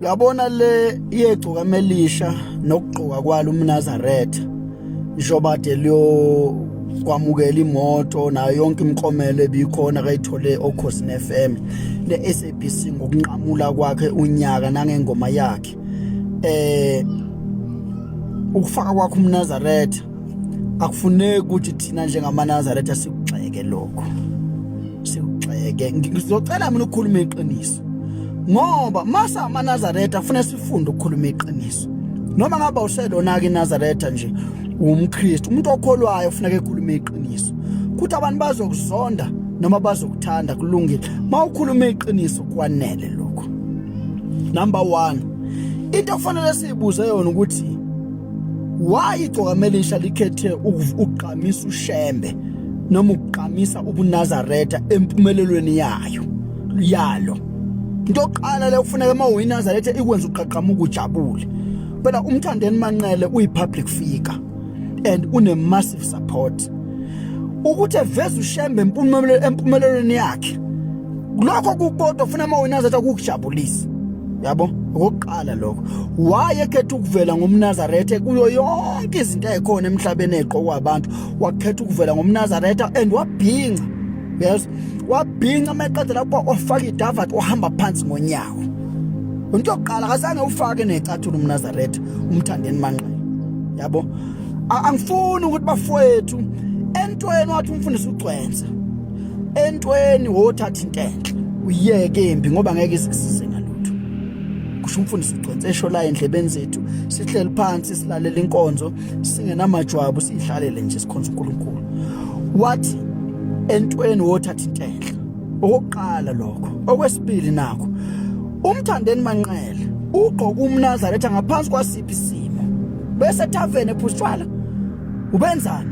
uyabona le yegcuka melisha nokugqoka kwalo umnazaretha njengoba de liyo kwamukela imoto nayo yonke imikomelo ebikhona kayithole okhosini FM ne-SABC ngokunqamula kwakhe unyaka nangengoma yakhe eh ukufaka kwakhe umnazaretha akufuneki ukuthi thina njengamaNazaretha sikugxeke lokho sikugxeke ngizocela mina ukukhuluma iqiniso ngoba masa amaNazaretha kufanele sifunde ukukhuluma iqiniso noma ngaba uselona ke iNazaretha nje umKristu umuntu okholwayo ufuneka ekhulume iqiniso kuthi abantu bazokuzonda noma bazokuthanda kulungile mawukhuluma iqiniso kwanele lokho number 1 into ofanele siyibuze yona ukuthi Why igcokamaelisha likhethe ukugqamisa ushembe noma ukugqamisa ubunazaretha empumelelweni yayo yalo into yokuqala le ufuneka uma uyinazaretha ikwenza uqaqamuka ujabule phela umthandeni manqele uyi-public figure and une-massive support ukuthi eveze ushembe empumelelweni yakhe lokho kukodwa ufuna uma wena azathi akukujabulisa yabo okokuqala lokho waye ekhetha ukuvela ngomnazaretha kuyo yonke izinto ezikhona emhlabeni eziqokwa abantu wakhetha ukuvela ngomnazaretha and wabhinca yes wabhinca meqeda lapho ofaka idavat ohamba phansi ngonyawo into yokuqala akazange ufake necathulo umnazaretha umthandeni manqele yabo angifuni ukuthi bafowethu entweni wathi umfundisi ugcwensa entweni wothatha into enhle uyeke embi ngoba ngeke isisize ngalutho kusho umfundisi ugcwense esho la endlebeni zethu sihleli phansi silalela inkonzo singenamajwabu siyihlalele nje sikhonza uNkulunkulu wathi entweni wothatha into enhle okokuqala lokho okwesibili nakho umthandeni manqele ugqoka umnazaretha ngaphansi kwasiphi isimo bese tavern ephusitshwala ubenzani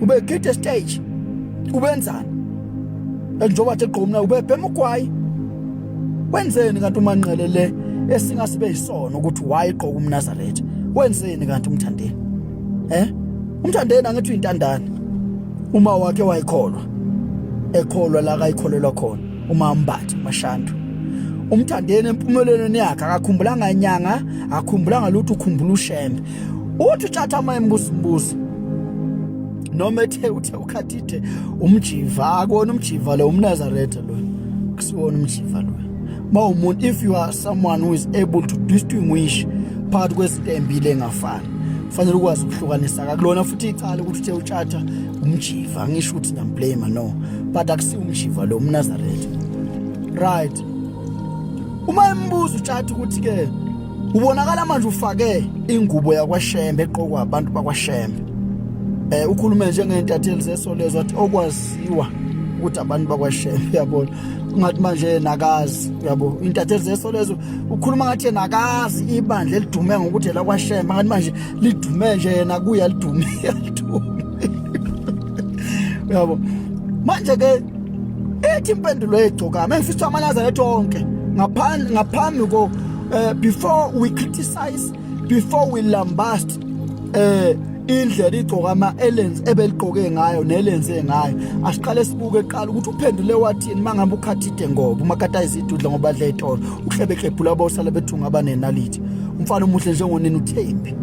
ubegide stage ubenzani njengoba athe gqomna ubebhema ugwayi wenzeni kanti umanqele le esingasibe yisona ukuthi wayigqoka umnazaretha wenzeni kanti umthandeni eh umthandeni angithi uyintandane uma wakhe wayikholwa ekholwa la kayikholelwa khona uma ambathe mashandu umthandeni empumelelweni yakhe akakhumbulanga inyanga akhumbulanga lutho ukhumbula ushembe uthi utshatha ama embusimbuzi noma ethe ukhathithe umjiva akona umjiva lo umnazaretha lo kusiwona umjiva lo ma umuntu if you are someone who is able to distinguish phakathi kwezinto embile engafani fanele ukwazi ukuhlukanisa kakulona futhi icala ukuthi uthe utshatha umjiva angisho ukuthi namblame no but akusi umjiva lo umnazaretha right uma embuza utshatha ukuthi ke Ubonakala manje ufake ingubo yakwashembe eqokwa abantu bakwashembe. Eh ukhulume njengentatheli zesolezo wathi okwaziwa ukuthi abantu bakwashembe uyabona. Ungathi manje nakazi uyabo intatheli zesolezo ukhuluma ngathi nakazi ibandla elidume ngokuthi la kwashembe ngathi manje lidume nje yena kuya lidume. Uyabo. Manje ke Ethi impendulo yegcokama engifisa amalaza lethu onke ngaphambi ngaphambi ko eh, before we criticize before we lambast eh indlela igcokama elenze ebeligqoke ngayo nelenze ngayo asiqale sibuke eqala ukuthi uphendule wathini mangabe ukhathide ngoba umakatayiza idudla ngoba adla itolo uhlebekebhula abosala bethunga abanenalithi umfana omuhle njengonini uthembi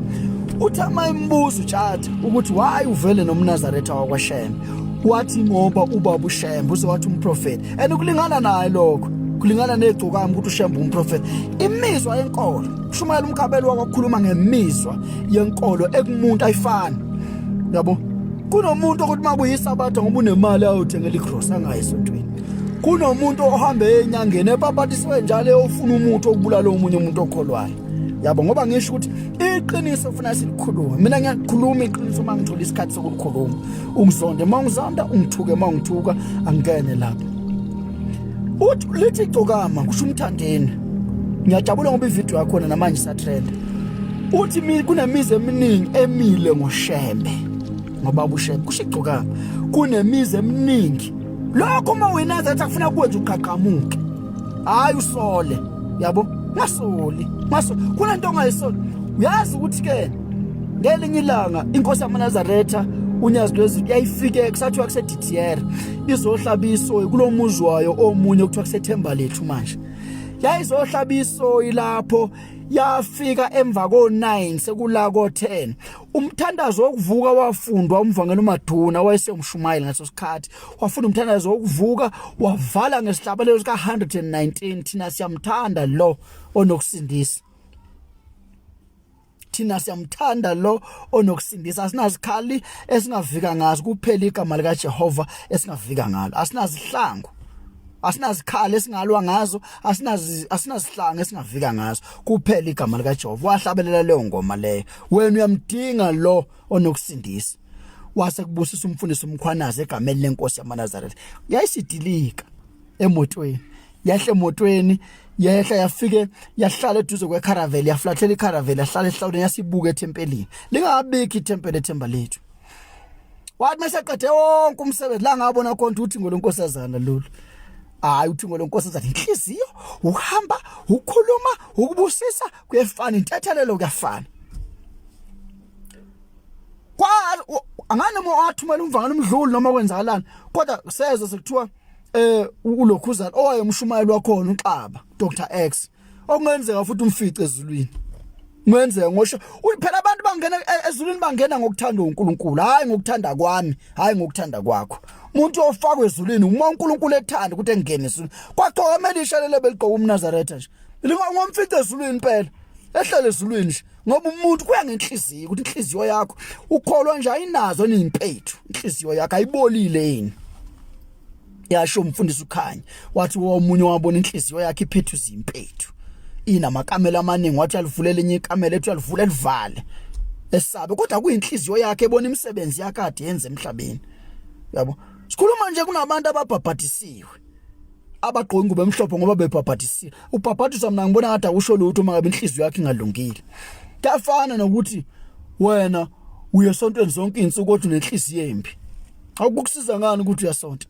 uthi amayimbuzo utshatha ukuthi why uvele nomnazaretha wakwashembe wathi ngoba ubaba ushembe uze wathi umprofeti and ukulingana naye lokho kulingana negcokami ukuthi ushembe umprofeti imizwa yenkolo shumayela umkabelo wakwakhuluma ngemizwa yenkolo ekumuntu ayifani yabo kunomuntu ukuthi makuyisabatha ngoba unemali ayothengela igross angayi esontweni kunomuntu ohambe enyangeni epapatiswe njalo eyofuna umuthi okubulala omunye umuntu okholwayo yabo ngoba ngisho ukuthi iqiniso ufuna silikhulume mina ngiyakhuluma iqiniso uma ngithola isikhathi sokulikhuluma ungizonde uma ungizonda ungithuke uma ungithuka angene lapho uthi lithi igcokama kusho umthandeni ngiyajabula ngoba ivideo yakhona namanje isatrenda uthi kunemizi eminingi emile ngoshembe ngoba ubushembe kusho igcokama kunemizi eminingi lokho uma wena zathi akufuna kwenza uqhaqhamuke hayi usole yabo ngasoli ngaso kunento ongayisoli uyazi ukuthi ke ngelinye ilanga inkosi yamanazaretha unyazi lwezulu yayifike kusathiwa kuseDDR izohlaba isoyi kulo muzi wayo omunye okuthiwa kusethemba lethu manje yayizohlaba isoyi lapho yafika emva ko9 sekula ko10 umthandazo wokuvuka wafundwa umvangela uMaduna wayesewumshumayeli ngaso sikhathi wafunda umthandazo wokuvuka wavala ngesihlabelelo sika 119 thina siyamthanda lo onokusindisa thina siyamthanda lo onokusindisa asinazikhali esingavika ngazo kuphela igama lika Jehova esingavika ngalo asinazihlangu asinazikhali esingalwa ngazo asinazi asinazihlanga esingavika ngazo kuphela igama lika Jehova wahlabelela leyo ngoma leyo wena uyamdinga lo onokusindisa wase kubusisa umfundisi umkhwanazi egameni lenkosi yamaNazaretha yayisidilika emotweni yehla emotweni yehla yafike yahlala eduze kwecaravel yaflathela icaravel yahlala ehlawuleni yasibuka ethempelini lingabikho ithempeli ethemba lethu wathi mesaqede wonke umsebenzi la ngabona khona ukuthi ngolonkosazana lolu hayi uthi ngolonkosazana inhliziyo uhamba ukhuluma ukubusisa kuyefana intethelelo kuyafana kwa angane uma wathumela umvangela umdluli noma kwenzakalani kodwa seze sekuthiwa eh ulokhuzana owayemshumayeli wakhona uXaba Dr X okungenzeka futhi umfice ezulwini kungenzeka ngosho uyiphela abantu bangena e, ezulwini bangena ngokuthanda uNkulunkulu hayi ngokuthanda kwami hayi ngokuthanda kwakho umuntu ofakwe ezulwini uma uNkulunkulu ethanda ukuthi engene ezulwini kwaqoka elisha lelo beligqoka umNazaretha nje lingomfice ezulwini impela ehlele ezulwini nje ngoba umuntu kuya ngenhliziyo ukuthi inhliziyo yakho ukholwa nje ayinazo nimpethu inhliziyo yakho ayibolile yini yasho umfundisi ukhanya wathi womunye wabona inhliziyo yakhe iphethu zimpethu inamakamela amaningi wathi alivulela enye ikamela ethi alivule livale esabe kodwa kuyinhliziyo yakhe ebona imisebenzi yakade yenze emhlabeni yabo sikhuluma nje kunabantu ababhabhadisiwe abagqoka ingubo emhlophe ngoba bebhabhadisile ubhabhadiswa mina ngibona ngathi akusho lutho uma ngabe inhliziyo yakhe ingalungile kuyafana nokuthi wena uye sontweni zonke insuku kodwa unenhliziyo embi akukusiza ngani ukuthi uyasonta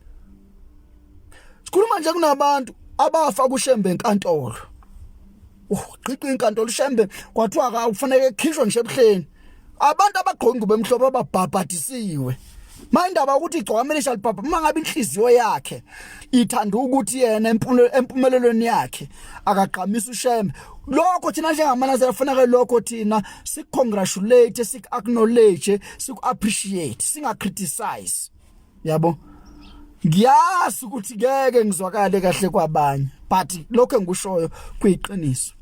sikhuluma nje kunabantu abafa kushembe enkantolo ugqiqi inkantolo ushembe kwathiwa akufanele ekhishwe nje ebuhleni abantu abagqoka ingubo emhlophe ababhabhadisiwe mayindaba ukuthi igcwamele shalibhabha uma ngabe inhliziyo yakhe ithanda ukuthi yena empumelelweni yakhe akagqamisa ushembe lokho thina njengamanazela kufanele lokho thina sikukongratulate siku-acknowledge siku-appreciate singacriticize yabo ngiyazi ukuthi ngeke ngizwakale kahle kwabanye but lokho engikushoyo kuyiqiniso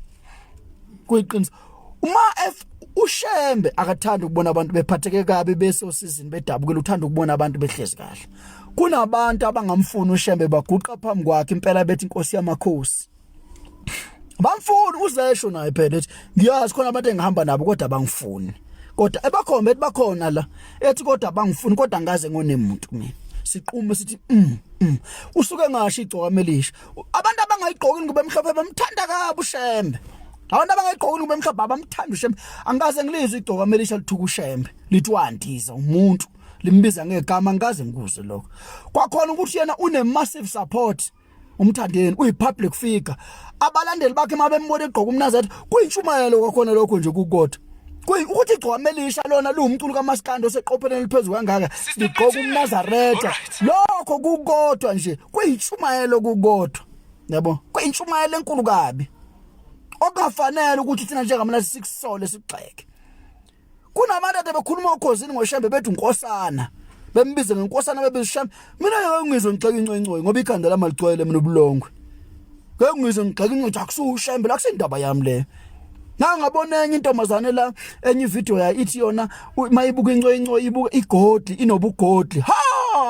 kuyiqiniso uma f ushembe akathanda ukubona abantu bephatheke kabi besosizini bedabukile uthanda ukubona abantu behlezi kahle kunabantu abangamfuni ushembe baguqa phambi kwakhe impela bethi inkosi yamakhosi bamfuni uzesho naye phela ethi ngiyazi khona abantu engihamba nabo kodwa bangifuni kodwa ebakhombe ethi bakhona la ethi kodwa bangifuni kodwa ngaze ngone muntu mina siqume sithi mm, mm. usuke ngasho igcoka amelisha abantu abangayigqoki ngoba emhlophe bamthanda kabi ushembe abantu abangayigqoki ngoba emhlophe abamthanda ushembe angikaze ngilizwe igcoka amelisha lithuka ushembe lithi wandiza umuntu limbiza ngegama angikaze ngikuze lokho kwakhona ukuthi yena une massive support umthandeni uyi-public figure abalandeli bakhe uma bembona egqoka umnazathi kuyintshumayelo kwakhona lokho nje kukodwa ukuthi igcwama elisha lona liwumculo kamasikandi oseqopheleni eliphezulu kangaka ligqoka umnazaretha lokho kukodwa nje kuyintshumayelo kukodwa yabo kuyintshumayelo enkulu kabi okungafanele ukuthi thina njengamalazi sikusole sigxeke kunabantu ade bekhuluma ukhosini ngoshembe bethi unkosana bembize ngenkosana bebezishame mina ngeke ngizwe ngixeke incoyincoyi ngoba ikhanda lami alicwele mina ubulongwe ngeke ngizwe ngixeke incoyincoyi akusushembe la kusindaba yami leyo ngangabona enye intombazane la enye ivideo ya ithi yona mayibuka incoyincoyi ibuka igodli inobugodli ha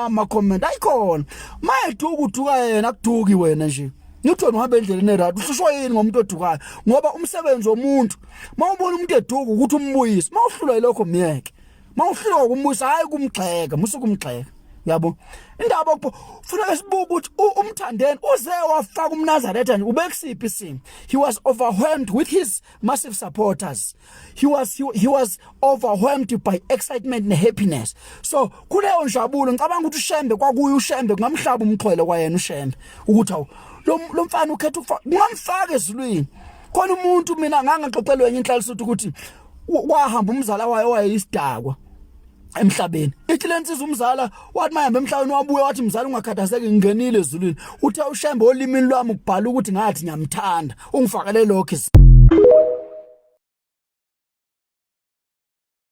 ama comment ayikhona mayethu ukuthuka yena akuduki wena nje ngithona uhamba endleleni erat ususho yini ngomuntu odukayo ngoba umsebenzi womuntu mawubona umuntu eduka ukuthi umbuyise mawuhlulwa yilokho myeke mawuhlulwa ukumbuyisa hayi kumgxeka musuku umgxeka yabo indaba okupho funeka sibuke ukuthi umthandeni uze wafaka umnazaretha nje ubekusiphi isimo he was overwhelmed with his massive supporters he was he, he was overwhelmed by excitement and happiness so kuleyo njabulo ngicabanga ukuthi ushembe kwakuye ushembe kungamhlaba umxhwele kwayena ushembe ukuthi awu lo mfana ukhetha ukufaka kungamfaka ezulwini khona umuntu mina ngangaxoxelwe enye inhlalisuthu ukuthi wahamba umzala wayo wayeyisidakwa emhlabeni ithi lensiza umzala wathi mayihamba emhlabeni wabuye wathi mzala ungakhathazeki ngingenile ezulwini uthe ushembe olimini lwami ukubhala ukuthi ngathi ngiyamthanda ungifakele lokho